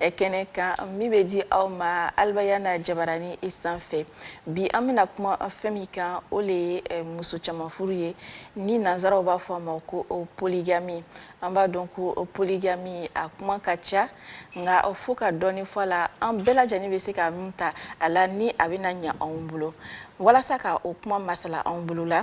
kɛnɛ kan min bɛ di aw ma alibayani jabaranin sanfɛ bi an bɛna kuma fɛn min kan o de ye muso caman furu ye ni nansaraw b'a fɔ a ma ko poligami an b'a dɔn ko poligami a kuma ka ca nka fo ka dɔɔni fɔ a la an bɛɛ lajɛlen bɛ se ka min ta a la ni a bɛna ɲɛ anw bolo walasa k' o kuma masala anw bolo la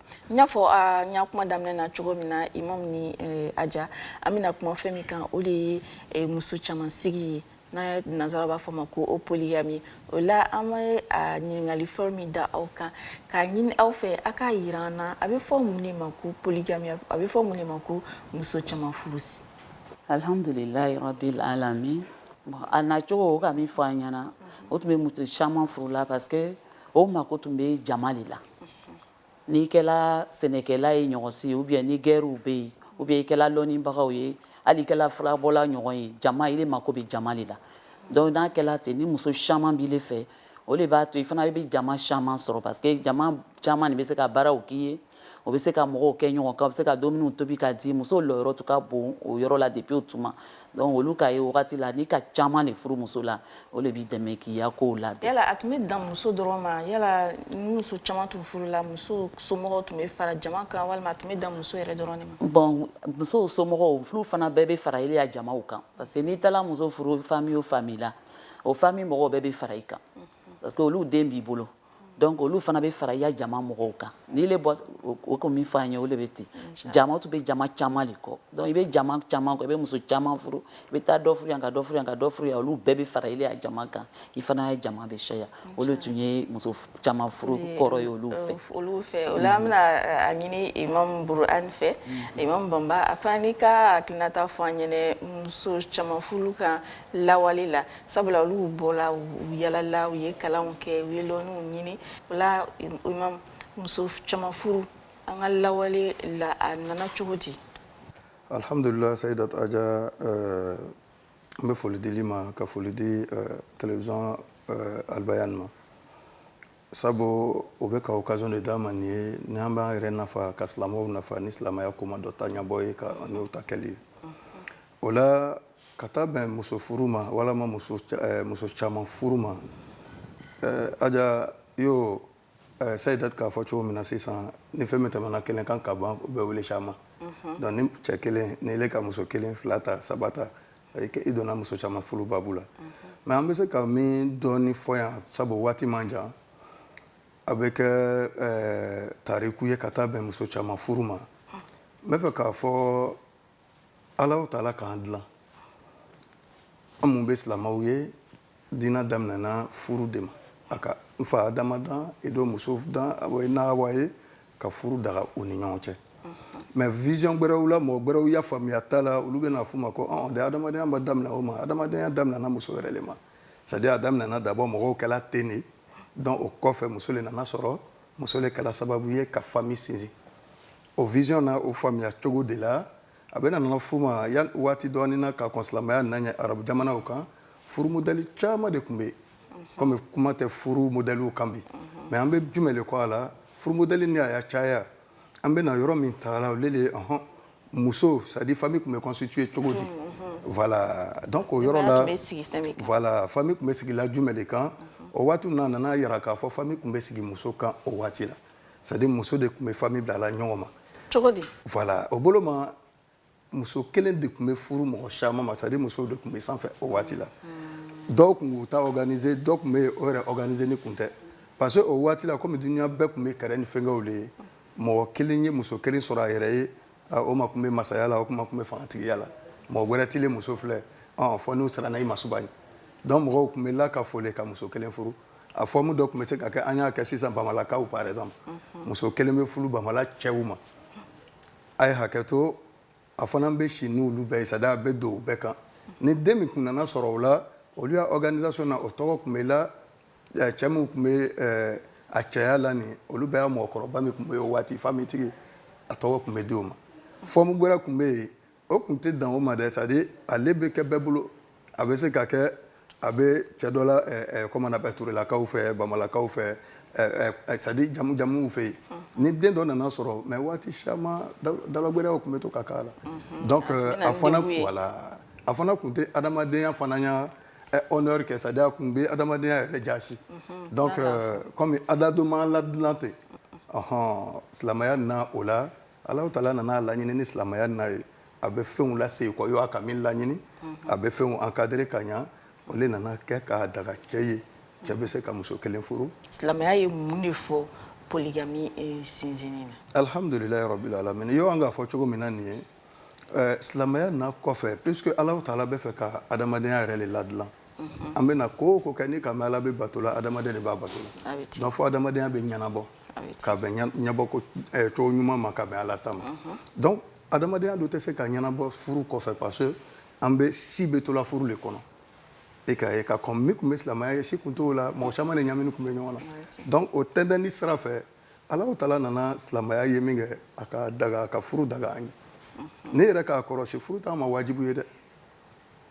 n y'a fɔ aw ye kuma daminɛ na cogo min na imam ni eh, aja an bɛna kuma fɛn min kan o de ye eh, muso caman sigi ye ni nansaraw b'a fɔ a ma ko polygami o la an bɛ ɲininkali fɔlɔ min da aw kan k'a ɲini aw fɛ a k'a yira an na a bɛ fɔ mun de ma ko polygami a bɛ fɔ mun de ma ko muso caman furu alhamdulilayi rabil alamin bon a nacogo o ka min fɔ an ɲɛna o tun bɛ muso caman furu la parce que o mako tun bɛ jama de la N'i kɛra sɛnɛkɛla ye ɲɔgɔn si o bɛ yen ni gɛrɛw bɛ yen o bɛ yen i kɛla dɔnnibagaw ye hali i kɛla furabɔla ɲɔgɔn ye jama i mako bɛ jama de la dɔnku n'a kɛra ten ni muso caman b'i fɛ o de b'a to i fana i bɛ jama caman sɔrɔ parce que jama caman de bɛ se ka baaraw k'i ye o bɛ se ka mɔgɔw kɛ ɲɔgɔn kan bɛ se ka dumuni tobi k'a di musow lɔyɔrɔ tun ka bon o yɔrɔ la depuis o tuma Dɔnku olu ka ye wagati la n'i ka caman de furu muso la o de b'i dɛmɛ k'i ya kow la yala a tun bɛ dan muso dɔrɔn ma yala muso caman tun furu la muso somɔgɔw tun bɛ fara jama kan walima tun bɛ dan muso yɛrɛ dɔrɔn ma bon musow somɔgɔw furu fana bɛɛ bɛ fara ile ya jamaw kan parce que n'i taara muso furu famiy o famiy la o famiy mɔgɔw bɛɛ bɛ fara i kan parce que olu den b'i bolo dɔnku olu fana bɛ fara i ya jama mɔgɔw kan n'ile ka min fɔ ye o de bɛ ten jama tun bɛ jama caman de kɔ dɔnku i bɛ jama caman kɔ i bɛ muso caman furu i bɛ taa dɔ furu yan ka dɔ furu yan ka dɔ furu yan olu bɛɛ bɛ fara ile jama kan i fana ya jama bɛ siyaya o le tun ye muso caman furu kɔrɔ ye olu fɛ olu fɛ o an bɛna a ɲini imam buran fɛ imam banba a fana k'a hakilinata fɔ an ɲɛna muso caman furu kan lawale la sabula olu bɔra u yalala u ye kalanw kɛ u ye lɔnniw ɲini yala muso caman furu an ka lawale la a nana cogo di alihamdulila sayidat aja n bɛ foli d'ile ma ka foli di télévision alibayani ma sabu u bɛ ka occasion de d'an ma nin ye ni an b'an yɛrɛ nafa ka silamɛw nafa ni silamɛya kuma dɔ ta ɲɛbɔ ye ka ta kɛli ye o la ka taa bɛn muso furu ma walima muso eh, caman furu ma eh, aja yo eh, sayidat k'a fɔ cogo min na sisan ni fɛn min tɛmɛna kelen kan ka ban u bɛ wele caman mhm. donc ni cɛ kelen ni ile ka muso kelen fila ta saba ta i donna muso caman furu babu la mhm. mais an bɛ se ka min dɔɔni fɔ yan sabu waati man jan a bɛ kɛ tariku ye ka taa bɛn muso caman furu ma n bɛ fɛ k'a fɔ alahu taala k'an dilan an mun bɛ silamɛw ye diina daminɛna furu de ma a ka n fa adama dan i do muso dan na Awa ye ka furu daga u ni ɲɔgɔn cɛ mais vision gbɛrɛw la mɔgɔ gbɛrɛw ya faamuya ta la olu bɛna f'u ma ko ɔn de adamadenya ma daminɛ o ma adamadenya daminɛna muso yɛrɛ le ma c'est à dire a daminɛna d'abord mɔgɔw kɛla ten de donc o kɔfɛ muso le nana sɔrɔ muso le kɛla sababu ye ka famille sinsin O vision na o faamuya cogo de la a bɛna nana f'u ma yan waati dɔɔni na ka kɔn silamɛya na ɲɛ arabu jamanaw kan furu modèle caman de tun bɛ yen comme kuma tɛ furu modèle kan bi mais an bɛ jumɛn de kɔ a la furu modèle ni a ya caya an bɛna yɔrɔ min ta la olu de ye ɔhɔn muso c'est à dire famille tun bɛ constituer cogo di voilà donc o yɔrɔ la voilà famille tun bɛ sigi la jumɛn de kan o waati ninnu na a nana jira k'a fɔ famille tun bɛ sigi muso kan o waati la c'est à dire muso de tun bɛ famille bila la ɲɔgɔn ma cogo di voilà o bolo ma muso kelen de tun bɛ furu mɔgɔ caman ma c'est à dire musow de tun bɛ sanfɛ o waati la dɔw tun b'u ta organiser dɔw tun bɛ o yɛrɛ organiser ni kun tɛ parce que o waati la komi dunuya bɛɛ tun bɛ kɛrɛ ni fɛnkɛw de ye mɔgɔ kelen ye muso kelen sɔrɔ a yɛrɛ ye o ma tun bɛ masaya la o kuma tun bɛ fangatigiya la mɔgɔ wɛrɛ tile muso filɛ ɔ fɔ n'u sara na i masuba ye donc mɔgɔw tun bɛ la ka fole ka muso kelen furu a forme dɔ tun bɛ se ka kɛ an y'a kɛ sisan bamalakaw par exemple muso kelen bɛ furu bamala cɛw ma a ye hakɛ to a fana bɛ si n' olu bɛɛ sa a bɛ don u bɛɛ kan ni den min tun nana sɔrɔ o la olu ya organisation na o tɔgɔ tun bɛ la cɛ min tun bɛ a cɛya la nin olu bɛ mɔgɔkɔrɔba min tun bɛ ye waati famille tigi a tɔgɔ tun bɛ di a ma forme wɛrɛ tun bɛ yen o tun tɛ dan o ma dɛ c'est à dire ale bɛ kɛ bɛɛ bolo a bɛ se ka kɛ a bɛ cɛ dɔ la eh, eh, comment on appelle turelakaw fɛ bamalakaw fɛ eh, c'est à dire jamu jamuw fɛ yen ni den dɔ nana sɔrɔ mais waati caman dala gwɛrɛw tun bɛ to ka k'a la mhm. donc euh, a fana voilà a fana tun tɛ adamadenya fana ya honneur kɛ c'est à dire a tun bɛ adamadenya yɛrɛ jasi mhm. donc euh, comme adamaden ma ladilan ten ɔhɔn silamɛya na o la Ala taala nana a laɲini ni silamɛya na ye a bɛ fɛnw lasegin kɔ a ka min laɲini a bɛ fɛnw encadrer ka ɲɛ o le nana kɛ k'a daga cɛ ye cɛ bɛ se ka muso kelen furu silamɛya ye mun de fɔ polygamie sinsin alihamdulilahi rabil alamin yo an k'a fɔ cogo min na nin ye silamɛya na kɔfɛ parce que ala taala b'a fɛ ka adamadenya yɛrɛ de ladilan an bɛna ko o ko kɛ ni ka ala bɛ bato la adamaden de b'a bato fo adamadenya bɛ ɲɛnabɔ ka bɛn ɲɛbɔko eh, cogo ɲuman ma ka bɛn ala ta ma mhm. donc adamadenya do tɛ se ka ɲɛnabɔ furu kɔfɛ parce que an bɛɛ si bɛ to la furu le kɔnɔ i k'a ye ka kɔn min tun bɛ silamɛya ɲɛ si kun t'o la mɔgɔ caman de ɲamini tun bɛ ɲɔgɔn na donc o tɛntɛnni sira fɛ Alahu taala nana silamɛya ye min kɛ a ka daga ka furu daga an ye mhm. ne yɛrɛ k'a kɔrɔsi furu t'an ma wajibu ye dɛ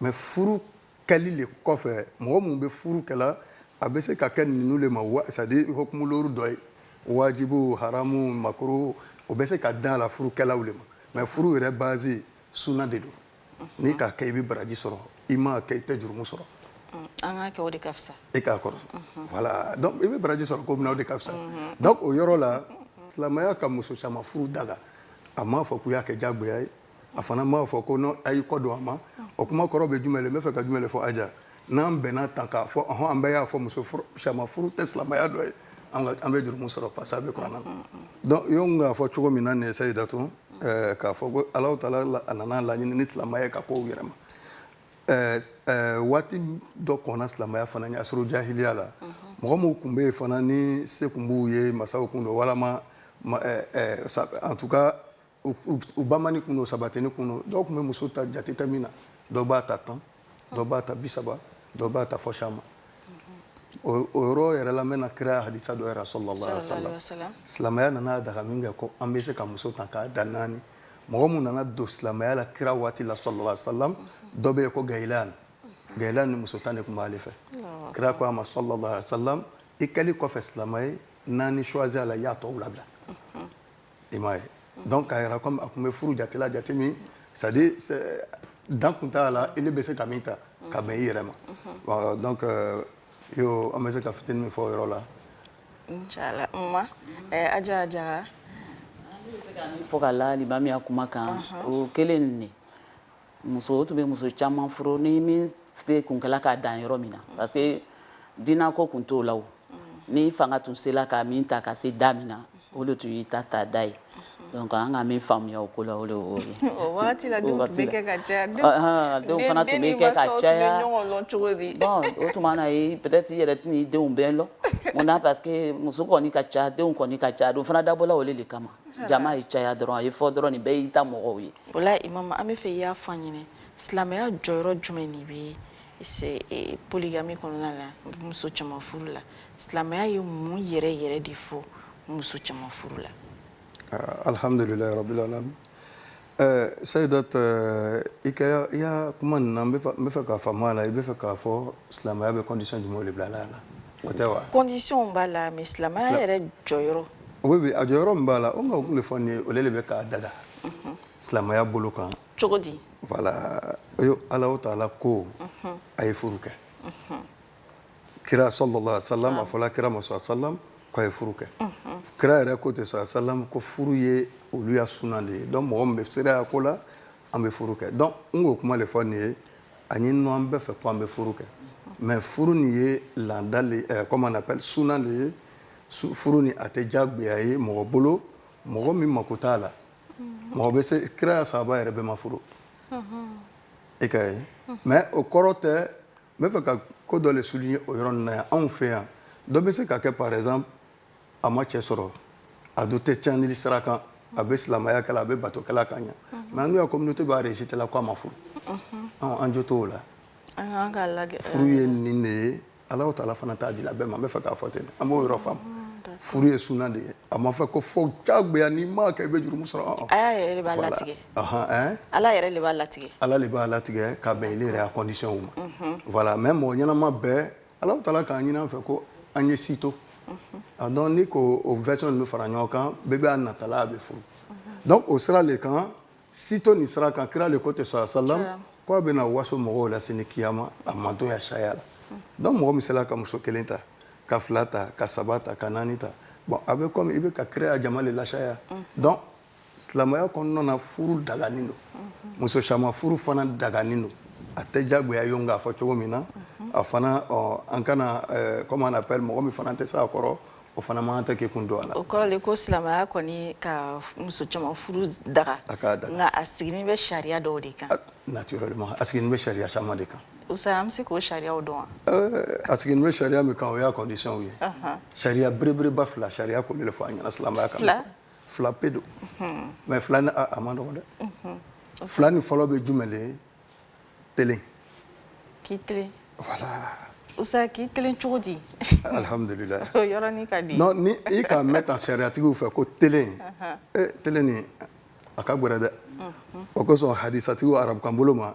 mais furu kɛli le kɔfɛ mɔgɔ minnu bɛ furu kɛla a bɛ se ka kɛ ninnu le ma c'est à dire hukumu looru dɔ ye wajibu haramu makuruhu o bɛ se ka da la furukɛlaw le ma mais furu yɛrɛ base suna de don n'i k'a kɛ i bɛ baraji sɔrɔ i m'a kɛ i tɛ jurumu sɔrɔ e k'a kɔrɔ wala i bɛ baraji sɔrɔ ko min na de ka fisa o yɔrɔ la silamɛya ka muso caman furu daga a m'a fɔ k'u y'a kɛ jagoya ye a fana m'a fɔ ko non a y'i kɔdon a ma o kuma kɔrɔ bɛ jumɛn n bɛ fɛ ka jumɛn de fɔ Aja n'an bɛnna tan k'a fɔ ɔhɔn an bɛɛ y'a fɔ muso furu sariya furu tɛ silamɛya dɔ ye an ka an bɛ jurumu sɔrɔ parce que a bɛ kuranɛ na donc yo n k'a fɔ cogo min na nin ye Sayidatu ɛɛ k'a fɔ ko Alahu taala a nana laɲini ni silamɛya ye ka kow yɛlɛma ɛɛ ɛɛ waati dɔ kɔnna silamɛya fana ɲɛ asuru jahiliya la mɔgɔ minnu tun bɛ yen fana ni se tun b'u ye masaw tun don walama ɛɛ ɛɛ en tout cas u ba ni kun don saba tɛ ni kun dɔw tun bɛ muso ta jateta min na dɔw b'a ta tan dɔw b'a ta bi saba dɔw b'a ta fɔ sa ma o yɔrɔ yɛrɛ la bɛna na kira hadisa dɔ yɛrɛ salalahu alayhi wa salam silamɛya nana daga min kɛ ko an bɛ se ka muso ta k'a dan naani mɔgɔ min nana don silamɛya la kira waati la salalahu alayhi wa salam dɔ bɛ yen ko Gayilan Gayilani muso tan de tun b'ale fɛ kira ko a ma salalahu alayhi wa salam i kɛlen kɔfɛ silamɛ ye naani choisir a la y'a tɔ labila i m'a ye donc k'a yira comme a tun bɛ furu jate la jate min c'est à dire dan tun t'a la ele bɛ se ka min ta ka bɛn i yɛrɛ ma donc euh, yo an bɛ se ka fitini min fɔ o yɔrɔ la inchallah ma eh, aja jaga fɔ k'a la limami ya kuma kan o kelen nin muso tun bɛ muso caman furu ni min se kun kɛla k'a dan yɔrɔ min na parce que diinɛ ko tun t'o la o n'i fanga tun sela ka min ta ka se da min na o de tun y'i ta ta da ye donc an ka min faamuya o ko la o de y'o ye o wagati la denw tun bɛ kɛ ka caya denw fana tun bɛ kɛ ka caya bon o tuma na ye peut être i yɛrɛ tɛna i denw bɛɛ lɔn mun na parce que muso kɔni ka ca denw kɔni ka ca a don fana dabɔla o de kama jama ye caya dɔrɔn a ye fɔ dɔrɔn nin bɛɛ y'i ta mɔgɔw ye Voilà imam an bɛ fɛ i y'a fɔ an ɲɛna silamɛya jɔyɔrɔ jumɛn de bɛ e, poligami kɔnɔna la muso caman furu la silamɛya ye mun yɛrɛ yɛrɛ de fɔ muso caman furu la ah, alhamdulilayi rabbil alamin eh, sayidat eh, i ka i ya kuma nin na n bɛ fɛ k'a faamu a la i bɛ fɛ k'a fɔ silamɛya bɛ condition jumɛnw de bila la a la O tɛ wa condition b'a la mais silamɛya yɛrɛ jɔyɔrɔ o bɛ a jɔyɔrɔ min b'a la o kuma o tun bɛ fɔ n ye o de bɛ k'a daga silamɛya bolo kan cogo di voilà Alahu taala ko a ye furu kɛ kira sɔlala salam a fɔla kira ma sɔla salam k'a ye furu kɛ kira yɛrɛ ko ten sɔla salam ko furu ye olu ya suna de ye donc mɔgɔ min bɛ seereya ko la an bɛ furu kɛ donc n k'o kuma de fɔ nin ye ani n an bɛ fɛ ko an bɛ furu kɛ mais furu nin ye laada de comment on appelle suna de ye furu ni a tɛ jagoya ye mɔgɔ bolo mɔgɔ min mako t'a la mɔgɔ bɛ se kira ya sahaba yɛrɛ bɛɛ ma furu e ka ye mais o kɔrɔ tɛ n b'a fɛ ka ko dɔ de souligner o yɔrɔ na yan anw fɛ yan dɔ bɛ se ka kɛ par exemple a ma cɛ sɔrɔ a dun tɛ cɛnni sira kan a bɛ silamɛya kɛla a bɛ bato kɛla ka ɲɛ mais n'u ko minnutu b'a si tɛla k'a ma furu an jo t'o la furu ye nin de ye ala ta fana t'a di bɛɛ ma bɛ fɛ k'a fɔ ten an b'o yɔrɔ fa furu ye suna de ye a ma fɔ ko fo jagoya n'i m'a kɛ i bɛ jurumu sɔrɔ ala yɛrɛ b'a latigɛ ala de b'a latigɛ ka bɛn i yɛrɛ a conditions ma mais mɔgɔ ɲɛnama bɛɛ Alahu taala k'a ɲini an fɛ ko an ye si to a donc n'i k'o version ninnu fara ɲɔgɔn kan bɛɛ bɛ' natala a bɛ furu donc o sira de kan si to nin sira kan kira de ko ten sɔla salam k'a bɛna waso mɔgɔw la sini kiyama a mantɔn ya siyaya la donc mɔgɔ min sela ka muso kelen ta ka fila ta ka saba ta ka naani ta bon a bɛ comme i bɛ ka kira ya jama de lasiyaya donc silamɛya kɔnɔna na furu daganin don muso caman furu fana daganin don a tɛ diyagoya ye k'a fɔ cogo min na a fana an kana comme on appelle mɔgɔ min fana tɛ se a kɔrɔ o fana man kan tɛ k'i kun don a la, o kɔrɔ de ko silamɛya kɔni ka muso caman furu daga, a k'a daga, nka a sigilen bɛ sariya dɔw de kan, naturellement a sigilen bɛ sariya caman de kan, Usa an bɛ se k'o sariyaw dɔn wa? a sigilen bɛ sariya min kan o y'a conditions ye, anhan, sariya belebeleba fila sariya kolen de fɔ an ɲɛna silamɛya kan, fila fila pe don mais fila nin a man dɔgɔ dɛ fila nin fɔlɔ bɛ jumɛn le tilen k'i tilen usa k'i tilen cogo di alihamdulila ka di ni e k'a mɛn tan sariyayatigiw fɛ ko tilen tilen nin a ka gɛlɛn dɛ o kosɔn hadisatigiw arabukan bolo ma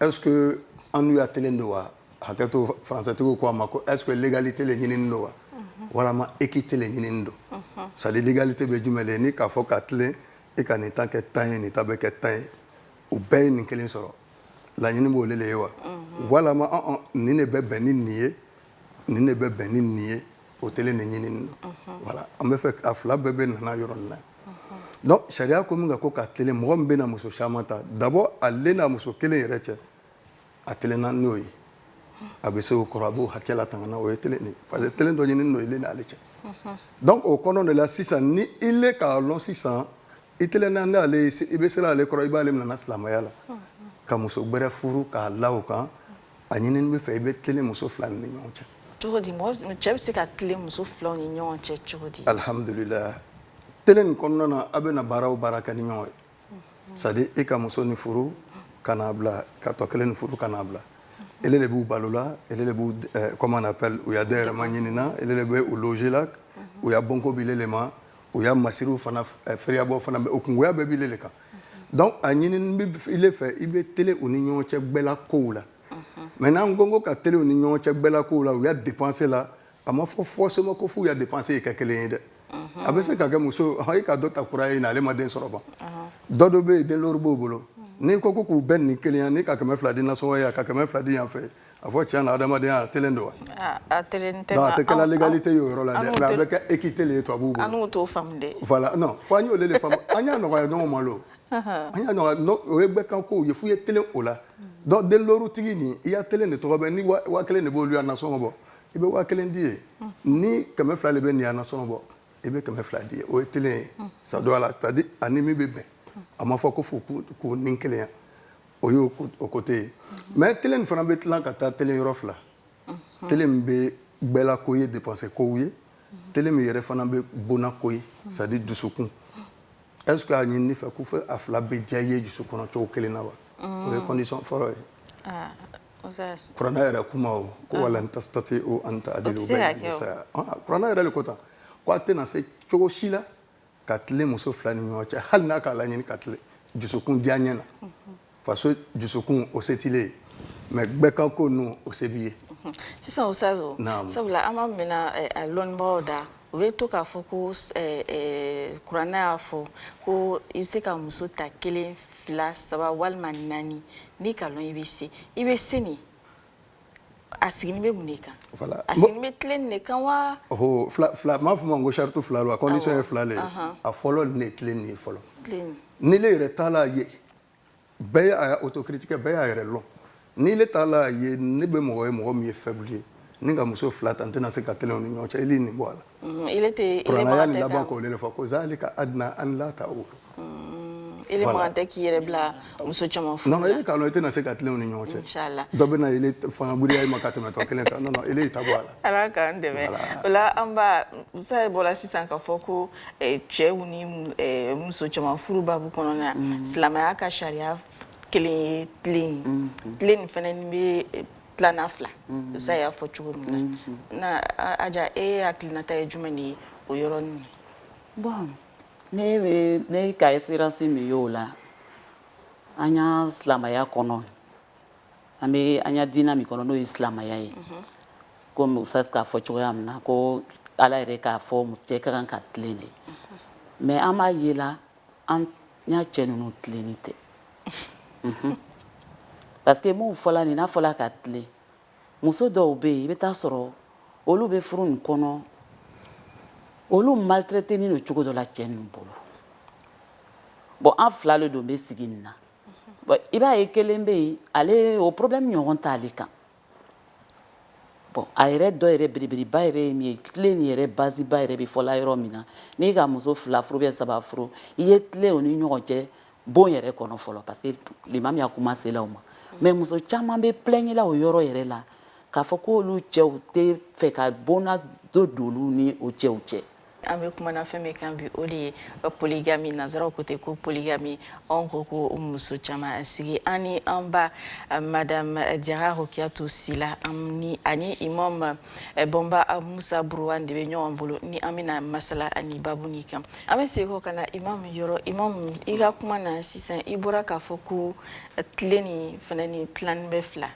Est-ce que an n'u ya tilen don wa? Hakɛto français tigiw ko a ma ko est-ce que l'égalité le ɲinini don wa? Unhun. Walama équité le ɲinini don. Unhun. C'est à dire l'égalité bɛ jumɛn le n'i k'a fɔ k'a tilen e ka nin ta kɛ tan ye nin ta bɛ kɛ tan ye u bɛɛ ye nin kelen sɔrɔ laɲini b'o le le ye wa? Unhun. Walama ɔn ɔn nin de bɛ bɛn ni nin ye nin de bɛ bɛn ni nin ye o tilen ɲininen wala an bɛ fɛ a fila bɛɛ bɛ nana yɔrɔ nin na sariya ko min ka ko ka tilen mɔgɔ min bɛna muso caman ta dabɔ a n'a muso kelen yɛrɛ cɛ a tilennen n'o ye a bɛ se o kɔrɔ a b'o hakɛla tan o ye parce que tilen dɔ ɲini n'o ye n'ale cɛ donc o kɔnɔ de la sisan ni i le k'a lɔn sisan i tilennen i bɛ se ale kɔrɔ i b'aale nana silamɛya la ka muso wɛrɛ furu k'a la o kan A ɲininen b'i fɛ i bɛ tilen muso fila ni ɲɔgɔn cɛ cogo di mɔgɔ cɛ bɛ se ka tilen muso filaw ni ɲɔgɔn cɛ cogo di alihamdulila tilen nin kɔnɔna na aw bɛ na baaraw baara kɛ ni ɲɔgɔn ye c'est-à-dire i ka muso nin furu ka na bila ka tɔ kelen nin furu ka na bila ile le b'u balola ile le b' u ya dahirimɛ ɲinina ile le bɛ u gérer la u ya bonko b'ile le ma u ya masiri fana fɛɛrɛbɔ fana u kungoya bɛɛ b'ile le kan donc a ɲininen bɛ ile fɛ i bɛ tilen u ni ɲɔgɔn cɛ gbɛla kow la mais n'an ko ko ka tilen u ni ɲɔgɔn cɛ gbɛla kow la u ya dépense la a ma fɔ forcément ko f'u ya dépense ye kɛ kelen ye dɛ a bɛ se ka kɛ muso i ka dɔ ta kura ye na ale ma den sɔrɔ ban dɔ dɔ bɛ yen den looru b'o bolo n'i ko k'u bɛn ni kelenya n'i ka kɛmɛ fila di nasɔngɔ yan ka kɛmɛ fila di yan fɛ A fɔ cɛ na adamaden tilennen don wa a tɛ kɛ égalité y'o yɔrɔ la a bɛ kɛ équité le to b'u an to fa fo an y'o de fa an y'a nɔgɔya ɲɔgɔn malo an o ye gbɛ kan ko ye fo i ye tilen o la donc denlorutigi nin i ya tilen de tɔgɔ bɛ ni waa kelen de b'o ya nasɔngɔ bɔ i bɛ waa kelen di yen ni kɛmɛ fila de bɛ nin ya nasɔngɔ bɔ i bɛ kɛmɛ fila di ye o ye tilen ye sa don a la ka di ani min bɛ bɛn a ma fɔ ko fo ko ni kelenya o y' o ko tɛ yen mais tilen fana bɛ tila ka taa tilen yɔrɔ fila tilen min bɛ gbɛla ko ye dépense kow ye tilen min yɛrɛ fana bɛ bon ko ye c'est-à-dire dusukun est-ce a ɲinin'i fɛ ko fo a fila bɛɛ diya ye dusu kɔnɔ cogo kelen na wa o ye question fɔlɔ ye kuran yɛrɛ kuma ko wa lan tasitatiu an ta kuran yɛrɛ de ko tan k'aw tɛna se cogo si la ka tilen muso fila ni ɲɔgɔn cɛ hali n'a k'a laɲini ka tilen jusukun diyanyɛ na parce jusukun o se t'ile ye mais gbɛ kan ko ninnu o se b'i ye sisan o sa sabula an b'a mɛnna eh, a lɔnbagaw da u bɛ to k'a fɔ ko eh, eh, kuranɛ y'a fɔ ko i bɛ se ka muso ta kelen fila saba walima naani n'i ka lɔn i bɛ se i bɛ se nin a sigilen bɛ mun de kan voilà a sigilen bɛ tilen de kan wa ɔhɔ fila fila m'a fɔ i ma ko sarati fila don a condition ye fila de ye a fɔlɔ nin ye tilen nin ye fɔlɔ ni ile yɛrɛ t'a la ye bɛɛ ye a autocritique bɛɛ b'a yɛrɛ lɔn ni ile t'a la ye ne bɛ mɔgɔ ye mɔgɔ min ye faible ye ni n ka muso fila ta n tɛna se ka tilen u ni ɲɔgɔn cɛ i nin bɔ a la Mm, il était kuranɛ aya laban k'o de fɔ ko zalika adna an la ta o mm, ele man kan tɛ k'i yɛrɛ bila muso caman furu non ele k'a dɔn i tɛna se ka tilen u ni ɲɔgɔn cɛ inchallah dɔ bɛ na ele fanga giriya i ma ka tɛmɛ tɔ kelen kan non non ele y'i ta bɔ a la ala k'an dɛmɛ o la an ba musa ye bɔra sisan k'a fɔ ko eh, cɛw ni eh, muso caman furu babu kɔnɔna mm. silamɛya ka sariya kelen ye tilen ye tilen nin fana bɛ eh, tilanna fila musa y'a fɔ cogo min na aja e hakilinata ye jumɛn de ye o yɔrɔ nin na bon ne bɛ ne ka esperansi min y'o la an ya silamɛya kɔnɔ an bɛ an ya diinɛ min kɔnɔ n'o ye silamɛya ye komi musa k'a fɔ cogoya min na ko ala yɛrɛ k'a fɔ cɛ ka kan ka tilen de mais an b'a yela An ya cɛ ninnu tilennin tɛ parce que n b'o fɔla nin n'a fɔra ka tilen muso dɔw bɛ yen i bɛ taa sɔrɔ olu bɛ furu nin kɔnɔ olu maltraiténin lo cogo dɔ la cɛ ninnu bolo bon an fila de don bɛ sigi nin na i b'a ye kelen bɛ yen ale o problème ɲɔgɔn t'ale kan Bon a yɛrɛ dɔ yɛrɛ belebeleba yɛrɛ ye min ye tilen nin yɛrɛ baziba yɛrɛ bɛ fɔla yɔrɔ min na n'i ka muso fila furu bɛ saba furu i ye tilen o ni ɲɔgɔn cɛ bon yɛrɛ kɔnɔ fɔlɔ parce que limami ya kuma sela o ma mais muso caman bɛ plaigner o yɔrɔ yɛrɛ la k'a fɔ k'olu cɛw t'a fɛ ka bonna dɔ don olu ni o cɛw cɛ An bɛ kumana fɛn min kan bi o de ye polygamie nansaraw ko ten ko polygamie anw ko ko muso caman sigi an ni an ba madame Jara Rokiyatu Sila ani ani imam Bamba Musa Buruwan de bɛ ɲɔgɔn bolo ni an bɛna masala nin babu nin kan an bɛ sekɔ ka na imam yɔrɔ imam i ka kuma na sisan i bɔra k'a fɔ ko tilen nin fana nin tilannin bɛ fila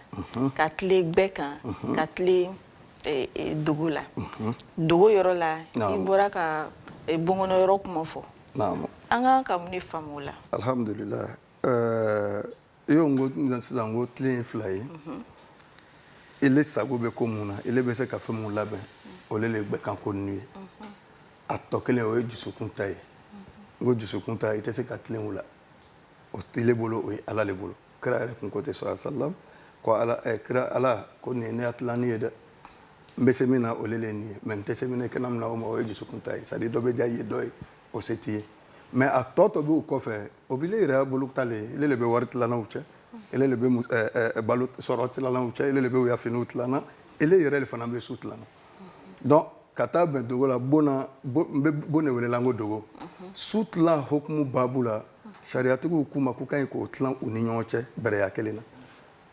ka tilen bɛɛ kan ka tilen e, e, dogo la mhm. dogo yɔrɔ la i bɔra ka e, bonkɔnɔ yɔrɔ kuma fɔ an kan ka mun de faamu o la alhamdulila iyo n ko sisan ko tilen ye fila ye mhm. ele sago bɛ ko mun na ele bɛ se ka fɛn mun labɛn o le le gbɛkan ko ninnu ye mhm. a tɔ kelen o ye jusukun ta ye n ko jusukun ta i tɛ se ka tilen o la o tɛ ele bolo o ye ala le bolo kira yɛrɛ kun ko ten sallallahu salam ko ala eh, kira ala ko nin ye ne ya tilanni ye dɛ n bɛ se min na o le nin ye mais n tɛ se min na kana n mina o ma o ye jusukun ta ye ça veut dire dɔ bɛ diya i ye dɔ ye o se t'i ye mais a tɔ tɔ b'u kɔfɛ o b'ile yɛrɛ bolo ta le ele le bɛ wari tilanna u cɛ ele le bɛ eh, eh, balo sɔrɔ tilanna u cɛ ele le bɛ u ya finiw tilanna ele yɛrɛ le fana bɛ su tilanna donc ka taa bɛn dogo la bon na n bɛ bon de welela n ko dogo su tilan hokumu baabu la sariyatigiw kuma k'u ka ɲi k'o tilan u ni ɲɔgɔn cɛ bɛrɛya kelen na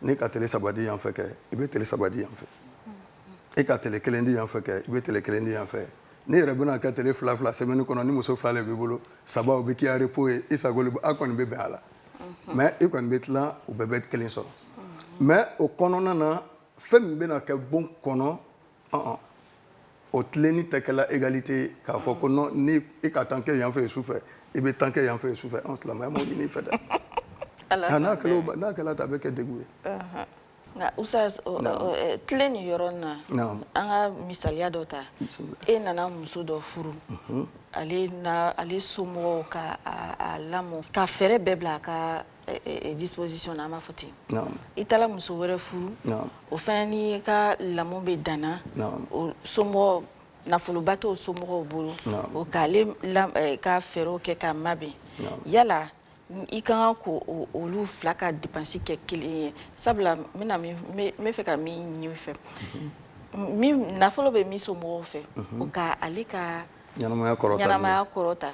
n'i ka tele saba di yan fɛ kɛ i bɛ tele saba di yan fɛ e ka tele kelen di yan fɛ kɛ i bɛ tele kelen di yan fɛ ni yɛrɛ bɛna kɛ tele fila fila semaine kɔnɔ ni muso fila de b'i bolo saba o bɛ k'i ya repos ye i sago le a kɔni bɛ bɛn a la mais e kɔni bɛ tilan u bɛɛ bɛ kelen sɔrɔ mais o kɔnɔna na fɛn min bɛna kɛ bon kɔnɔ o tilenni tɛ kɛla égalité ye k'a fɔ ko ni e ka tan kɛ yan fɛ ye su fɛ i bɛ tan kɛ yan fɛ ye su fɛ an silamɛya ma ɲini i fɛ dɛ n'a n'a kɛla tan a bɛ kɛ degun ye nka u tilenni yɔrɔ na an ka misaliya dɔ ta e nana muso dɔ furu ale na ale somɔgɔw k'a lamɔ ka fɛɛrɛ bɛɛ bila a ka disposition na an b'a fɔ ten i taara muso wɛrɛ furu o fana n'i ka lamɔ bɛ danna o somɔgɔ nafoloba t'o somɔgɔw bolo o k'ale ka fɛɛrɛw kɛ k'a mabɛn yala i ka kan k'olu fila ka dépense kɛ kelen ye sabula n bɛna min n bɛ fɛ ka min ɲini i fɛ min nafolo bɛ min somɔgɔw fɛ o ka ale ka ɲɛnamaya kɔrɔta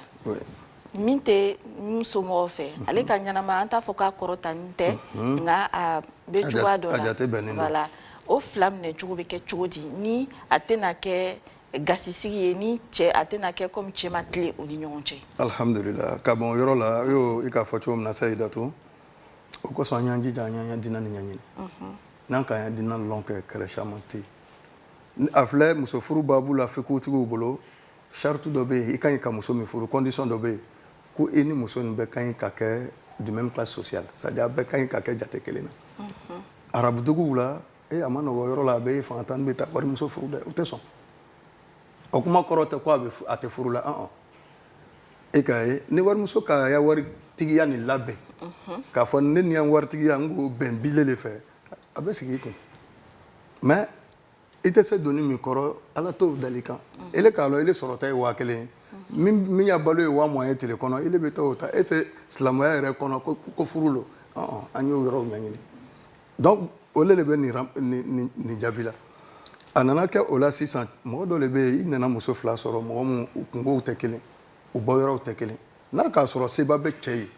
min tɛ min somɔgɔw fɛ ale ka ɲɛnama an t'a fɔ k'a kɔrɔtanin tɛ nka a bɛ cogoya dɔ la o fila minɛ cogo bɛ kɛ cogo di ni a tɛna kɛ gasisigi ye ni cɛ a tɛna kɛ kɔmi cɛ ma tilen u ni ɲɔgɔn cɛ alihamdulila ka bɔ yɔrɔ la ye i k'a fɔ cogo min na sayidatu o kosɔn an y'an jija an y'an ya diina nin ɲɛɲini n'an k'an ya diina dɔn kɛ kɛlɛ caman tɛ a filɛ musofuru baabu la fikihutigiw bolo sarati dɔ bɛ yen i ka ɲi ka muso min furu condition dɔ bɛ yen ko i ni muso in bɛɛ ka ɲi ka kɛ du même classe sociale c'est à dire a bɛɛ ka ɲi ka kɛ jate kelen na arabu duguw la ee a ma nɔgɔ yɔrɔ la a bɛ fangatan bɛ taa warimuso furu dɛ u tɛ sɔn o kuma kɔrɔ tɛ ko a bɛ a tɛ furu la an e ka ye ni warimuso k'a ya waritigiya nin labɛn k'a fɔ ne ni n ya waritigiya n ko bɛɛ n b'ile de fɛ a bɛ sigi i kun mais i tɛ se doni min kɔrɔ ala t'o da i kan e k'a dɔn e sɔrɔta ye waa kelen ye min ya balo ye waa mugan ye tile kɔnɔ e bɛ t'o ta e tɛ se silamɛya yɛrɛ kɔnɔ k'o furu don an y'o yɔrɔ ɲɛɲini donc o de bɛ nin jaabi la a nana kɛ o la sisan mɔgɔ dɔ de bɛ yen i nana muso fila sɔrɔ mɔgɔ minnu u kungow tɛ kelen u bɔ yɔrɔw tɛ kelen n'a k'a sɔrɔ seba bɛ cɛ ye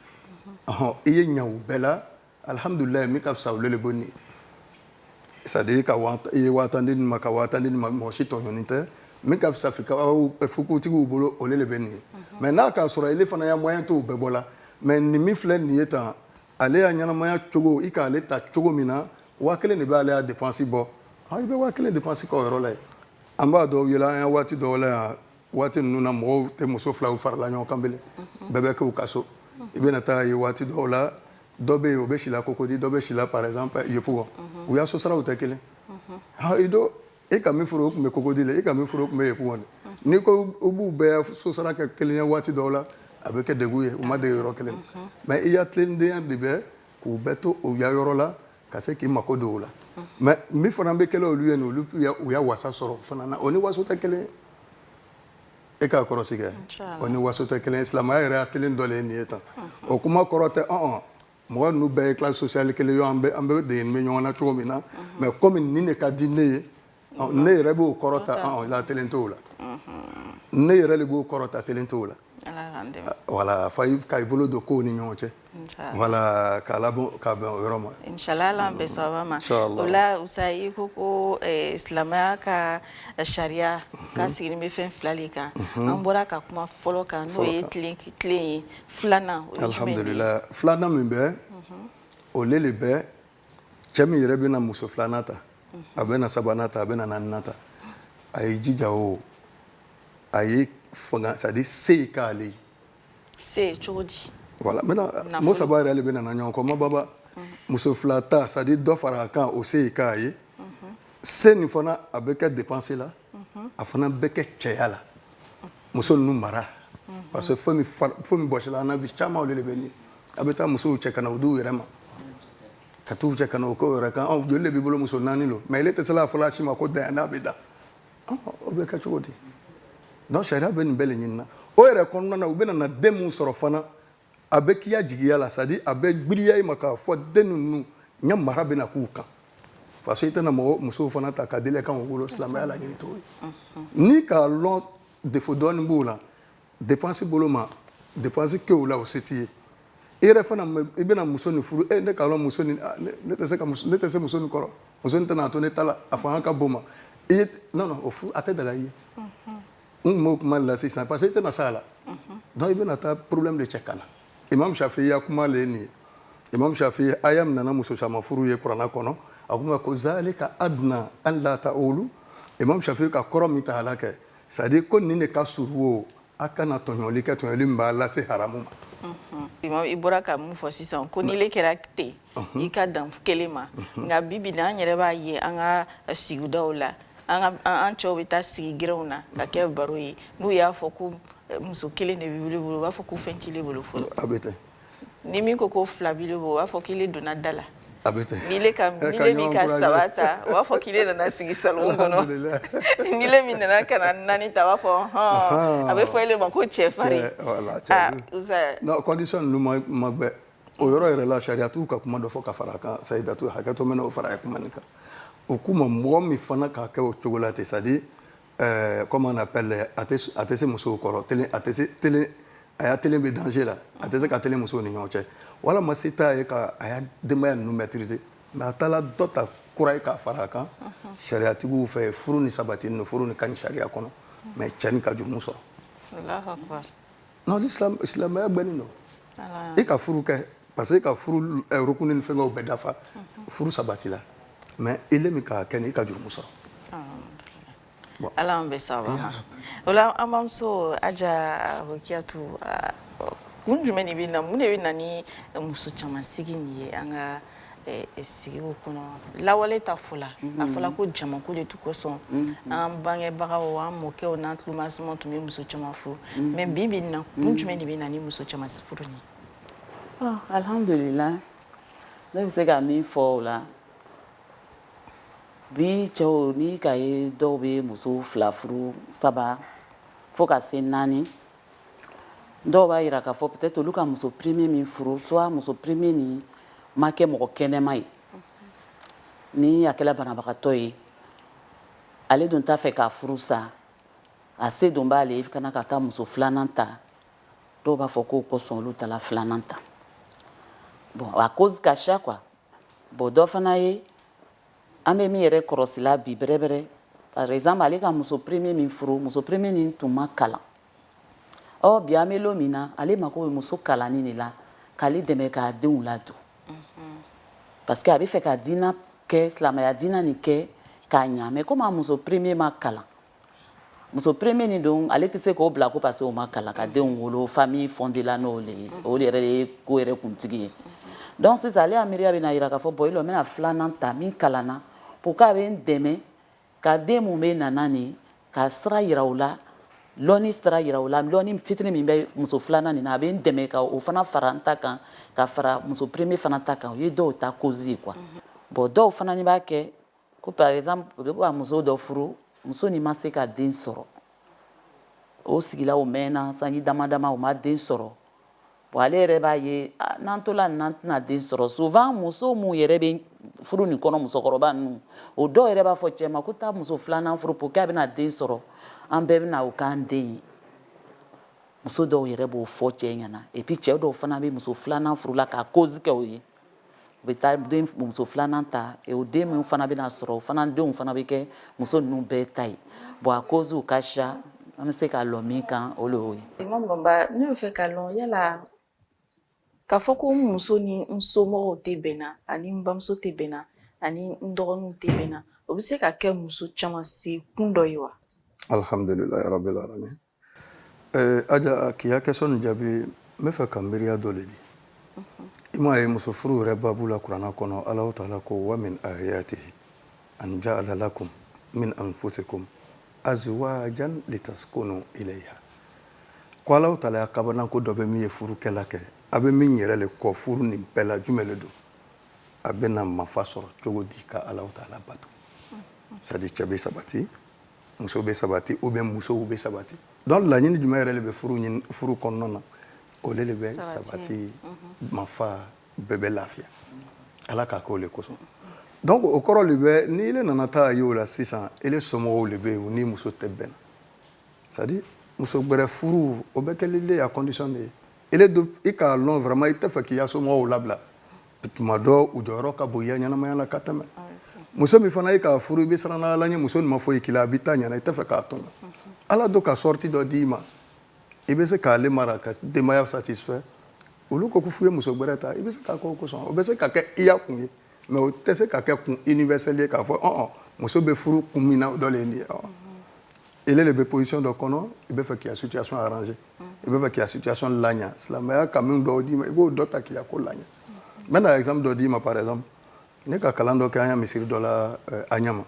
i ye ɲa u bɛɛ la alihamdulila min ka fisa o de bɛ nin c'est à dire que i ye waa tan di ma ka waa tan di ma mɔgɔ si tɔɲɔnin tɛ min ka fisa fikihutigiw bolo o de bɛ nin mais n'a k'a sɔrɔ ile fana ya moyen t'o bɛɛ bɔ la mɛ nin min filɛ nin ye tan ale ya ɲɛnamaya cogo i k'ale ta cogo min na waa kelen de b'ale ya dépense bɔ i bɛ waa kelen dépense k'o yɔrɔ la ye an b'a dɔw yɛlɛ an ya waati dɔw la yan waati ninnu na mɔgɔw tɛ muso filaw farala ɲɔgɔn kan bele bɛɛ bɛ k'u ka so i bɛna taa ye waati dɔw la dɔ bɛ yen o bɛ sila Cocody dɔ bɛ sila par exemple Yopougon u ya sosaraw tɛ kelen ha i do e ka min furu o tun bɛ Cocody la e ka min furu o tun bɛ Yopougon de n'i ko u b'u bɛɛ sosara kɛ kelen ye waati dɔw la a bɛ kɛ degun ye u ma dege yɔrɔ kelen mais i ya tilennidenya de bɛ k'u bɛɛ to u ya yɔrɔ la ka se k'i mako don o la mais min fana bɛ kɛla olu ye nin olu u ya wasa sɔrɔ fana na o ni waso tɛ kelen e ka kɔrɔsi kɛ o ni waso tɛ kelen silamɛya yɛrɛ ya kelen dɔ le ye nin ye tan o kuma kɔrɔ tɛ ɔn mɔgɔ ninnu bɛɛ ye classe sociale kelen ye an bɛɛ de bɛ ɲɔgɔn na cogo min na mais kɔmi nin de ka di ne ye ne yɛrɛ b'o kɔrɔ ta la t t' la ne yɛrɛ de b'o kɔrɔ ta t t' la wala fa ka i bolo don ko ni ɲɔgɔn cɛ wala ka ka bɛ yɔrɔ ma masa i ko ko silamɛya ka sariya ka siginin bɛ fɛn fila de kan an bɔra ka kuma fɔlɔ kan n'o ye tilen ye filanan filanan min bɛ o de bɛ cɛ min yɛrɛ bɛna muso filanan ta a bɛna sabanan ta a bɛna naaninan ta a ye jija o a ye fanga c'est à dire se ye k'ale ye se cogo di voilà maintenant mot saba yɛrɛ de bɛ nana ɲɔgɔn kɔ ma baba muso fila ta c'est à dire dɔ fara a kan o se ye k'a ye se nin fana a bɛ kɛ dépense la a fana bɛ kɛ cɛya la muso ninnu mara parce que fɛn min bɔsila an na bi caman de bɛ a bɛ taa musow cɛ ka na u di yɛrɛ ma ka taa u cɛ ka na u kɛ yɛrɛ kan joli de b'i bolo muso naani don mais ile tɛ sela a fɔra si ma ko da n'a bɛ da o bɛ kɛ cogo di sariya bɛ nin bɛɛ ɲinina o yɛrɛ kɔnɔna na u bɛna na den min sɔrɔ fana a bɛ k'i ya jigiya la c'est à dire a bɛ gbiriya i ma k'a fɔ den ninnu ya mara bɛna k'u kan parce que i tɛna mɔgɔ musow fana ta ka deli kan wolo silamɛya laɲini t'o ye n'i k'a lɔn défaut dɔɔni b'o la dépense bolo ma dépense kɛ o la o se t'i ye i yɛrɛ fana i bɛna muso nin furu e n'i k'a lɔn muso nin ah, ne tɛ se ka ne tɛ se muso nin kɔrɔ muso nin tɛna a to ne ta la a fanga ka bon ma i ye non non o furu a tɛ daga i ye n tun b'o kuma la sisan parce que i tɛna s'a la donc i bɛna taa problème de cɛ ka na imam shafi ya kuma le ye nin ye imam shafi aya min nana muso caman furu ye kurana kɔnɔ a kuma ko zalika adna alla ta'ulu imam shafi ka kɔrɔ min ta a la kɛ c'est à dire ko nin de ka surun o a kana tɔɲɔli kɛ tɔɲɔli min b'a lase haramu ma i bɔra ka min fɔ sisan ko nin le kɛra ten i ka dan kelen ma nka bi bi na an yɛrɛ b'a ye an ka sigidaw la an cɛw bɛ taa sigi gɛrɛnw na k'a kɛ baro ye n'u y'a fɔ ko muso kelen de b'ile bolo u b'a fɔ ko fɛn t'ile bolo fɔlɔ a bɛ ni min ko ko fila b'ile bolo u b'a fɔ k'ile donna da la min ka saba ta u b'a fɔ k'ile nana sigi so kɔnɔ min nana ka naani ta b'a fɔ hɔn a bɛ fɔ e ma ko cɛri kɔndisɔn ma o yɔrɔ yɛrɛ la sariyatigiw ka kuma dɔ fɔ ka fara a kan sayidatu hakɛ to n bɛ n'o fara a kuma nin kan o kuma mɔgɔ min fana k'a kɛ o cogo la ten c'est-à-dire comme on appelle a tɛ se musow kɔrɔ a tɛ se telen a ya telen bɛ danger la a tɛ se ka telen musow ni ɲɔgɔn cɛ walima se t'a ye ka a ya denbaya ninnu maîtriser mais a taala dɔ ta kura ye k'a fara a kan sariyatigiw fɛ furu nin sabatinin furu nin ka ɲi sariya kɔnɔ mais cɛ nin ka jurumu sɔrɔ non ni silamɛya bɛ nin i ka furu kɛ parce que e ka furu eh, rukuni ni fɛngɛw bɛɛ dafa mhm. furu sabati la mais ile min k'a kɛ nin i ka jurumu sɔrɔ ah, ala an bɛ saba o la an bamuso aja rokiyatu ah, kun jumɛn de bɛ na mun de bɛ na ni muso caman sigi nin ye an ka sigi kɔnɔ lawale ta fɔ la a fɔra ko jama ko de tun kosɔn an bangebaga an mɔkɛw n'an tulomasama tun bɛ muso caman furu mais bi bi na kun jumɛn de bɛ na ni muso caman furu ye alhamdulila ne bɛ se ka min fɔ o la bi cɛw ni ka ye dɔw bɛ muso fila furu saba fo ka se naani dɔw b'a jira k'a fɔ peut-être olu ka muso premier min furu soit muso premier nin ma kɛ mɔgɔ kɛnɛma ye ni a kɛla banabagatɔ ye ale dun t'a fɛ k'a furu sa a se don b'ale ye ka na ka taa muso filanan ta dɔw b'a fɔ k'o kosɔn olu tala filanan ta bon a cause ka ca quoi bon dɔ fana ye An bɛ min yɛrɛ kɔlɔsila bi bɛrɛbɛrɛ par exemple ale ka muso premier min furu muso premier min tun ma kalan ɔ bi an bɛ don min na ale mako bɛ muso kalannin de la k'ale dɛmɛ k'a denw ladon parce que a bɛ fɛ ka diinɛ kɛ silamɛya diinɛ nin kɛ ka ɲa mais comme muso premier ma kalan muso premier nin dun ale tɛ se k'o bila ko parce que o ma kalan ka denw wolo famille fondée la n'o le ye o de yɛrɛ ye ko yɛrɛ kuntigi ye donc sisan ale ya miiriya bɛ n'a jira k'a fɔ bon i lɔ n bɛna filanan ta min kalanna pour que a bɛ n dɛmɛ ka den min bɛna na nin ka sira yira u la lɔnni sira yira u la lɔnni fitini min bɛ muso filanan nin na a bɛ n dɛmɛ ka o fana fara n ta kan ka fara muso premier fana ta kan o ye dɔw ta cause ye quoi bon dɔw fana ni b'a kɛ Ko par exemple u bɛ ka muso dɔ furu muso nin ma se ka den sɔrɔ o sigila o mɛnna sanji dama dama u ma den sɔrɔ bon ale yɛrɛ b'a ye ah, n'an tola nin n'an tɛna den sɔrɔ souvent muso min yɛrɛ bɛ furu nin kɔnɔ musokɔrɔba ninnu o dɔw yɛrɛ b'a fɔ cɛ ma ko taa muso filanan furu pour que a bɛna den sɔrɔ an bɛɛ bɛna o k'an den ye muso dɔw yɛrɛ b'o fɔ cɛ ɲɛna et puis cɛ dɔw fana bɛ muso filanan furu la k'a cause kɛ o ye U bɛ taa den muso filanan ta o den min fana bɛna sɔrɔ o fana denw fana bɛ kɛ muso ninnu bɛɛ ta ye bon a causew ka siya an bɛ se ka lɔ min kan o ye ne bɛ fɛ k'a lɔn yala k'a fɔ ko n muso ni n somɔgɔw tɛ bɛnna ani n bamuso tɛ bɛnna ani n dɔgɔninw tɛ bɛnna o bɛ se ka kɛ muso caman se kun dɔ ye wa alihamdulilayi rabil alamin ɛɛ aja k'i ya question jaabi n bɛ fɛ ka miiriya dɔ le di i ma a ye muso furu yɛrɛ baabu la kuranna kɔnɔ alahu taala ko wa min ayatihi an jaala lakum min anfusikum azwajan litaskunu ilayha ko alahu taala ya kabanako dɔ bɛ min ye furukɛla kɛ a bɛ min yɛrɛ le kɔ furu nin bɛɛ la jumɛn le don a bɛna mafa sɔrɔ cogo di ka alahu taala bato c'est-à-dire cɛ bɛ sabati muso bɛ sabati ou bien musow bɛ sabati donc laɲini jumɛn yɛrɛ le bɛ furu kɔnɔna na o le bɛ sabati mafa bɛɛ bɛ lafiya ala k'a k'o le kosɔn donc o kɔrɔ le bɛ ni ile nana taa a ye o la sisan ile somɔgɔw le bɛ yen u ni muso tɛ bɛn c'est-à-dire muso gbɛrɛ furu o bɛ kɛ ile le ya condition le ye e don i k'a lɔn vraiment i tɛ fɛ k'i ya somɔgɔw labila tuma dɔ u jɔyɔrɔ ka bon i ya ɲɛnamaya la ka tɛmɛ muso min fana i k'a furu i bɛ siran ala ɲɛ muso nin ma foyi k'i la a b'i ta ɲɛna i tɛ fɛ k'a tɔɲɔ ala don ka sortie dɔ d'i ma i bɛ se k'ale mara ka denbaya satisfait olu ko ko fo i ye muso gbɛrɛ ta i bɛ se k'a k'o kosɔn o bɛ se ka kɛ i ya kun ye mais o tɛ se ka kɛ kun universel ye k'a fɔ muso bɛ furu kun min na o dɔ le ye nin ye ile le bɛ position dɔ kɔnɔ i bɛ fɛ k'i ya situation arranger i bɛ fɛ k'i ka situation laɲa silamɛya kanu dɔw d'i ma i b'o dɔ ta k'i ka ko laɲa n bɛna exemple dɔ d'i ma par exemple ne ka kalan dɔ kɛ an ka misiri dɔ la euh, Anyama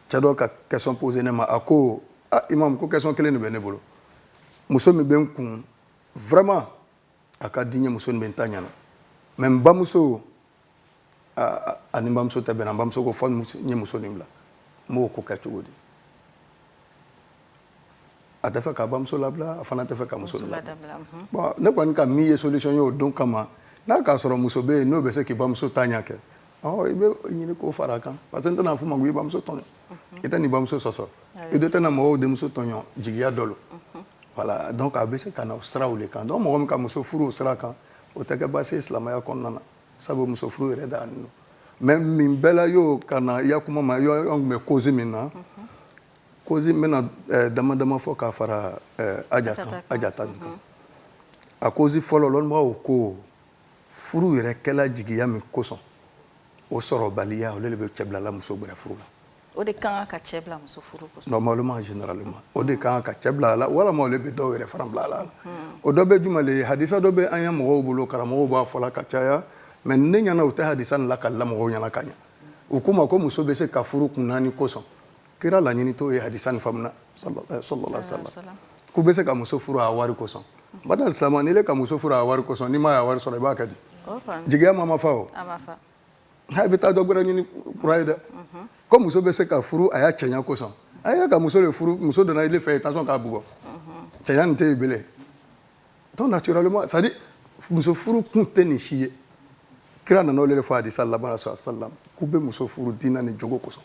cɛ dɔ ka question poser ne ma a ko ah imam ko question kelen de bɛ ne bolo muso min bɛ n kun vraiment a ka di n ye muso nin bɛ n ta ɲɛna mais n bamuso a ni n bamuso tɛ bɛnna bamuso ko fo n ye muso nin bila n b'o ko kɛ cogo di a tɛ fɛ ka bamuso labila a fana tɛ fɛ ka muso labila mhm. bon ne kɔni ka min ye solution ye o don kama n'a k'a sɔrɔ muso bɛ yen n'o bɛ se k'i bamuso ta ɲɛ kɛ ɔ i bɛ ɲini k'o fara a kan parce que n tɛna f'i ma ko i bamuso tɔɲɔ mhm. i tɛna i bamuso sɔsɔ i de tɛna mɔgɔw denmuso tɔɲɔ jigiya dɔ lo mhm. voilà donc a bɛ se ka na o siraw le kan donc mɔgɔ min ka muso furu o sira kan o tɛ kɛ baasi ye silamɛya kɔnɔna na sabu muso furu yɛrɛ daganin bɛ min bɛɛ la y'o ka na i ya kuma ma yɔrɔ tun bɛ cause min na cause n bɛna eh, dama dama fɔ k'a fara eh, aja ta nin kan a cause fɔlɔ lɔnnibagaw ko furu yɛrɛ kɛla jigiya min kosɔn o sɔrɔbaliya olu de bɛ cɛ bilala muso gbɛrɛ furu la O de kan ka cɛ bila muso furu o de kan ka cɛ bila a la walima bɛ dɔw yɛrɛ fana bila a la o dɔ bɛ juman ye hasa dɔ bɛ an ka mɔgɔw bolo karamɔgɔ b'a fɔ la ka caya mais ne ɲɛna u tɛ hasa la ka la ɲɛna ka ɲɛ u kuma ko muso bɛ se ka furu kun naani kosɔn kira laɲini t'o ye hasa ni faamuya sa k'u bɛ se ka muso furu a wari kosɔn ba sa ka muso furu a wari kosɔn n'i ma wari sɔrɔ i b'a ka di jigiya ma ma fa a bɛ taa dɔ wɛrɛ ɲini kura ye dɛ ko muso bɛ se ka furu a ya cɛɲa kosɔn a y'a ka muso de furu muso donna ile fɛ yen tansiyɔn k'a bugɔ cɛɲa nin tɛ yen belen donc naturellement c'est à dire muso furu kun tɛ nin si ye kira nana olu de fɔ hadisa laban sɔrɔ salam k'u bɛ muso furu diina ni jogo kosɔn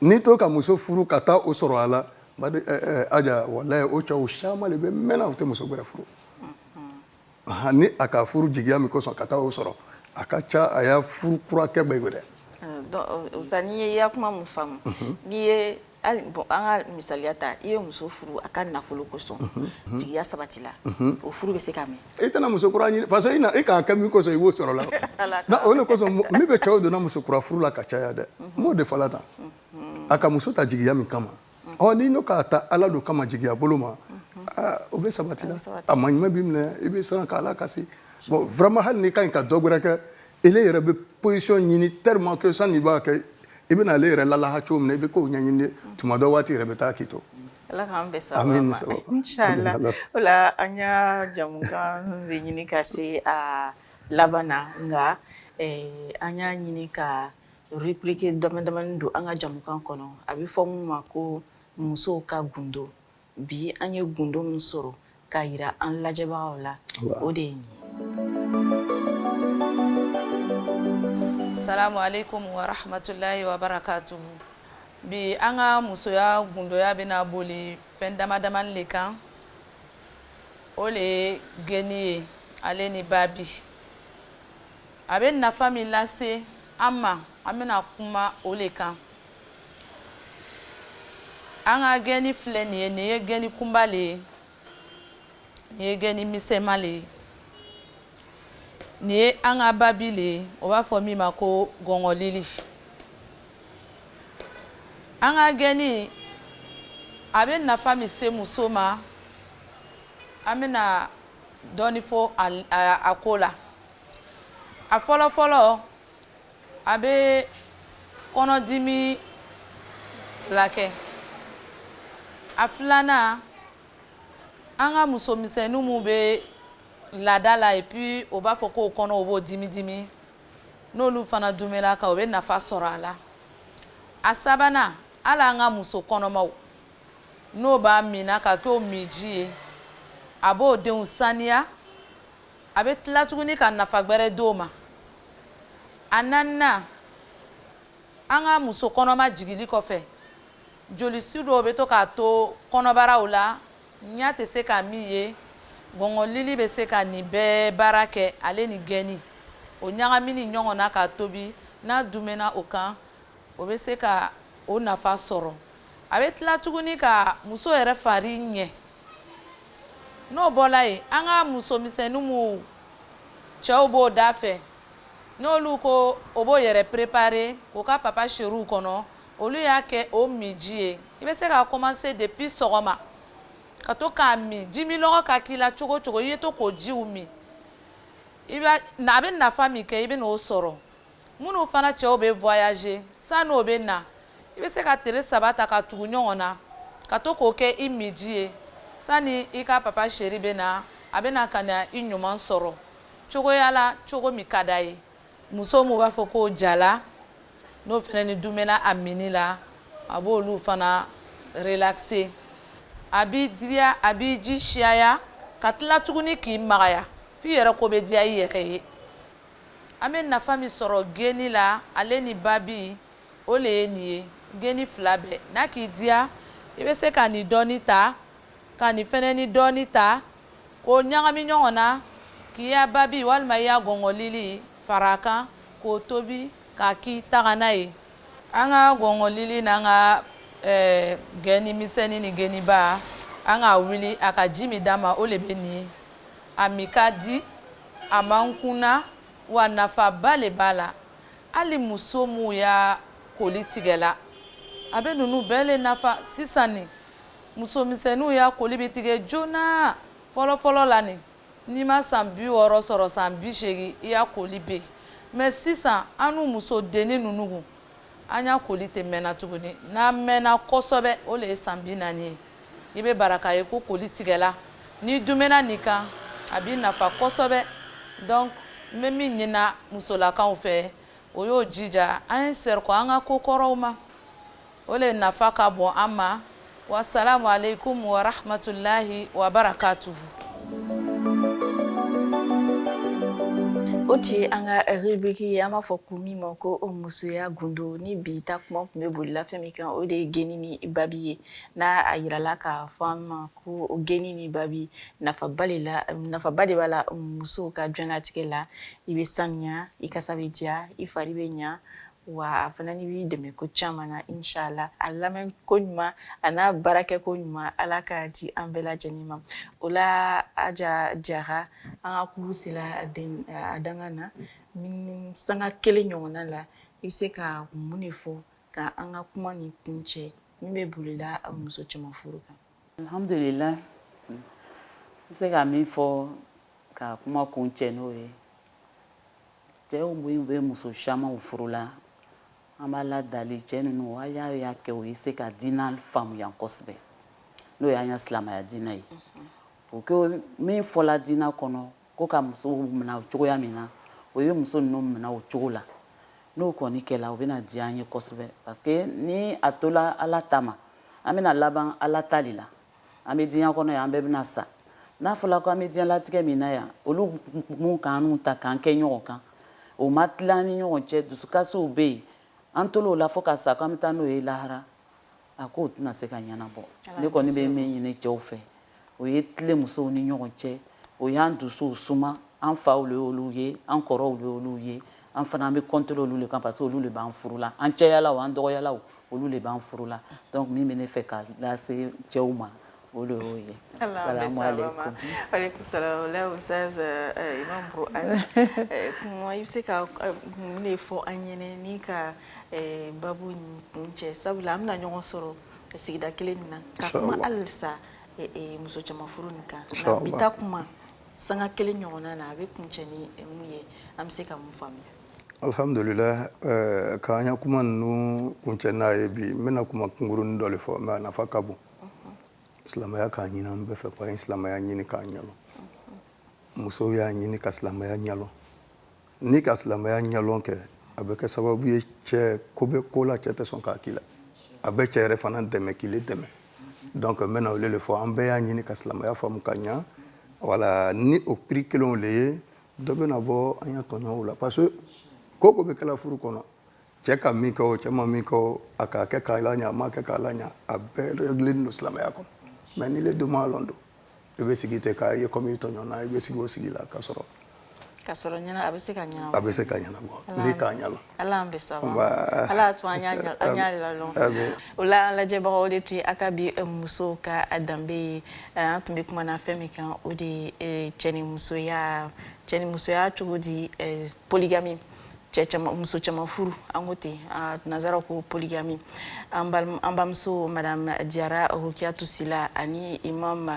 n'i tun ka muso furu ka taa o sɔrɔ a la aja walayi o cɛw caman de bɛ mɛnna u tɛ muso wɛrɛ furu ni a ka furu jigiya min kosɔn ka taa o sɔrɔ a ka ca a ya furu kura kɛ bɛ dɛ ah, n'i ye n ya kuma min faamu mhm. n'i ye an ka misaliya ta i ye muso furu a ka nafolo kosɔn mhm, mhm. jigiya sabati la o furu bɛ se ka mɛn i tɛna muso kura ɲini parce que i k'a kɛ min kosɔn i b'o sɔrɔ la o de kosɔn min bɛ cɛw donna muso kura furu la ka caya dɛ n b'o de fɔla tan a ka muso ta jigiya min kama ɔ n'i n'o k'a ta ala don kama jigiya bolo ma o bɛ sabati la a maɲuma b'i minɛ i bɛ siran k'a lakasi bon vraiment hali n'i ka ɲi ka dɔ wɛrɛ kɛ e yɛrɛ bɛ position ɲini tellement que sanni i b'a kɛ i bɛna ale yɛrɛ lalaha cogo min i bɛ k'o ɲɛɲini tuma dɔ waati yɛrɛ bɛ taa k'i to ala an bɛ sa an ka jamu bɛ ɲini ka se a laban na nka an y'a ɲini ka Rubrique dama damani don an ka jamukan kɔnɔ a bɛ fɔ min ma ko musow ka gundo bi an ye gundo min sɔrɔ ka jira an lajɛbagaw la o de ye nin Asalam aleyikum warahamatulayi wabarakatuhu bi an ka musoya gundoya bɛna boli fɛn dama damani de kan o de ye geni ye ale ni babi a bɛ nafa min lase an ma an bɛna kuma o le kan an ka gɛni filɛ nin ye nin ye gɛni kunba le ye nin ye gɛni misɛnma le ye nin ye an ka babi le ye o b'a fɔ min ma ko gɔngɔlili an ka gɛni a bɛ nafa min se muso ma an bɛna dɔɔni fɔ a ko la a fɔlɔ fɔlɔ a bɛ kɔnɔdimi filakɛ a filanan an ka musomisɛnninw minnu bɛ laada la et puis o b'a fɔ k'o kɔnɔ o b'o dimi dimi n'olu fana dumɛla kan o bɛ nafa sɔrɔ a la a sabanan hali an ka muso kɔnɔmaw n'o b'a minna ka k'o minji ye a b'o denw saniya a bɛ tila tuguni ka nafa gbɛrɛ di o ma a naaninan an ka muso kɔnɔma jigili kɔfɛ jolisu dɔw bɛ to ka to kɔnɔbaraw la ɲa tɛ se ka min ye gɔngɔlili bɛ se ka nin bɛɛ baara kɛ ale ni gɛni o ɲagamini ɲɔgɔn na k'a tobi n'a dumɛna o kan o bɛ se ka o nafa sɔrɔ a bɛ tila tuguni ka muso yɛrɛ fari ɲɛ n'o bɔra yen an ka musomisɛnninw minnu cɛw b'o dafɛ n'olu ko o b'o yɛrɛ préparer k'o ka papa chériw kɔnɔ olu y'a kɛ o minji ye i bɛ se ka commencer depuis sɔgɔma ka to k'a min jimilɔgɔ ka k'i la cogo o cogo i ye to k'o jiw min i b'a a bɛ nafa min kɛ i bɛn'o sɔrɔ minnu fana cɛw bɛ voyager san'o bɛ na i bɛ se ka tere saba ta ka tugu ɲɔgɔn na ka to k'o kɛ i minji ye sani i ka papa chéri bɛ na a bɛ na ka na i ɲuman sɔrɔ cogoya la cogo min ka d'a ye muso minnu b'a fɔ k'o jala n'o fana ni dumɛna a minni la a b'olu fana relaxer a b'i diya a b'i ji siyaya ka tila tuguni k'i magaya f'i yɛrɛ ko bɛ diya i yɛrɛ ye An bɛ nafa min sɔrɔ geni la, ale ni babi, o le ye nin ye, geni fila bɛɛ, n'a k'i diya, i bɛ se ka nin dɔɔni ta, ka nin fana ni dɔɔni ta, k'o ɲagami ɲɔgɔn na, k'i ya babi walima i ya gɔngɔlili fara a kan, k'o tobi k'a k'i tagana ye. An ka gɔngɔlili n'an ka geni misɛnni ni geniba, an k'a wuli, a ka ji min d'an ma, o le bɛ nin ye. a min ka di a man kunan wa nafaba le b'a la hali muso minnu ya koli tigɛla a bɛ ninnu bɛɛ le nafa sisan nin muso misɛnninw ya koli bɛ tigɛ joona fɔlɔfɔlɔ la nin n'i ma san bi wɔɔrɔ sɔrɔ san bi seegin i ya koli bɛ yen mɛ sisan annu musodennin ninnu an ya koli tɛ mɛnna tuguni n'a mɛnna kosɛbɛ o le ye san bi naani ye i bɛ bara k'a ye ko koli tigɛla n'i dumɛna nin kan a b'i nafa kosɛbɛ donc n bɛ min ɲinina musolakaw fɛ o y'o jija an ye segin kɔ an ka ko kɔrɔw ma o le nafa ka bon an ma Wasalaamu aleykum wa rahmatulahi wa barakatuhu. o tun ye an ka rubrique ye an b'a fɔ ko min ma ko musoya gundo ni bi ta kuma tun bɛ bolila fɛn min kan o de ye geni ni babi ye n'a a yirala k'a fɔ aw ma ko geni ni babi nafaba de la nafaba de b'a la musow ka diɲɛnatigɛ la i bɛ sanuya i kasa bɛ diya i fari bɛ ɲɛ Wa a fana ni b'i dɛmɛ ko caman na inchallah a lamɛn koɲuman a n'a baara kɛ koɲuman Ala k'a di an bɛɛ lajɛlen ma o la Aja Jara an ka kurun sera a dankan na ni sanga kelen ɲɔgɔnna la i bɛ se ka mun de fɔ ka an ka kuma nin kuncɛ min bɛ bolila muso caman furu kan Alihamdulila n bɛ se ka min fɔ ka kuma kuncɛ n'o ye cɛw minnu bɛ muso camanw furu la an b'Ala dali cɛ ninnu a y'a y'a kɛ o ye se ka diinɛ faamuya kosɛbɛ n'o y'an ka silamɛya diinɛ ye pour que min fɔla diinɛ kɔnɔ Ko ka musow minɛ o cogoya min na, o ye muso ninnu minɛ o cogo la. N'o kɔni kɛla, o bɛna diya an ye kosɛbɛ parce que ni a tola Ala ta ma, an bɛna laban Ala ta le la. An bɛ diɲɛ kɔnɔ yan, an bɛɛ bɛna sa. N'a fɔla ko an bɛ diɲɛlatigɛ min na yan, olu minnu ka annu ta k'an kɛ ɲɔgɔn kan, o ma tilan an ni ɲɔgɔn cɛ, dusukasiw bɛ yen, an tola o la fo ka sa ko an bɛ taa n'o ye lahara, a ko tɛna se ka ɲɛnabɔ ne kɔni bɛ min ɲini cɛw fɛ o ye tilen musow ni ɲɔgɔn cɛ o y'an dusuw suma an faw le olu ye an kɔrɔw le olu ye an fana an bɛ kɔnte olu le kan parce que olu le b'an furu la an cɛyalaw an dɔgɔyalaw olu le b'an furu la donc min bɛ ne fɛ ka lase cɛw ma O de y'o ye i bɛ se ka mun de fɔ an ɲɛna ka babu kuncɛ sabula an bɛna ɲɔgɔn sɔrɔ sigida kelen min na halisa muso caman furu nin kan bi ta kuma sanga kelen ɲɔgɔnna na a bɛ kuncɛ ni mun ye an bɛ se ka mun faamuya alihamdulila k'an ka kuma ninnu kuncɛ n'a ye bi n bɛna kuma kunkurun dɔ le fɔ mɛ a nafa ka bon silamɛya k'a ɲini an bɛɛ fɛ ko an ye silamɛya ɲini k'a ɲɛlɔn musow y'a ɲini ka silamɛya ɲɛlɔn n'i ka silamɛya ɲɛlɔn kɛ a bɛ kɛ sababu ye cɛ ko bɛ ko la cɛ tɛ sɔn k'a k'i la a bɛ cɛ yɛrɛ fana dɛmɛ k'ile dɛmɛ donc n bɛna olu le fɔ an bɛɛ y'a ɲini ka silamɛya faamu ka ɲa wala ni o prix kelenw le ye dɔ bɛna bɔ an ya tɔɲɔw la parce que ko o ko bɛ kɛla furu kɔnɔ cɛ ka min kɛ o cɛ ma min kɛ o a k'a kɛ k'a laɲa a m'a kɛ k'a laɲa a bɛɛ réglélen don silamɛya kɔnɔ mais n'ile dun m'a lɔn don i bɛ sigi ten k'a ye comme i tɔɲɔnna i bɛ sigi o sigi la ka sɔrɔ ka sɔrɔ ɲɛna a bɛ se ka ɲɛnabɔ a bɛ se ka ɲɛnabɔ n'i k'a ɲɛlɔn ala an bɛ saba ala y'a to an y'a lalɔn o la an lajɛbagaw o de tun ye an ka bi eh, musow ka a danbe ye eh, an tun bɛ kuma na fɛn min kan o de ye eh, cɛ ni musoya cɛ ni musoya cogo di poligami cɛ muso caman furu an ko ten nansaraw ko poligami an balimamuso madame jara rokiyatu sila ani imam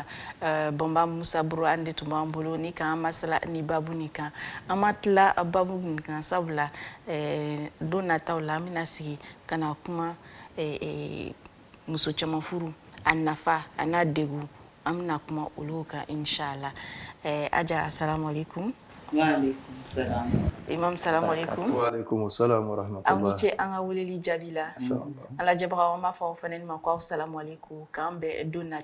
eh, banba musa buru an de tun b'an bolo ni k'an masala ni babu nin kan an ma tila babu nin kan sabula eh, don nataw la an bɛna sigi ka na kuma eh, muso caman furu a nafa an'a degun an bɛna kuma olu kan insha'Allah ɛɛ Aja asalamu aleyikoum imam salamu aleyikoum aw ni ce an ka weleli jaabi la an lajɛbagaw an b'a fɔ aw fana ni ma ko aw salamu aleyikoum k'an bɛn don na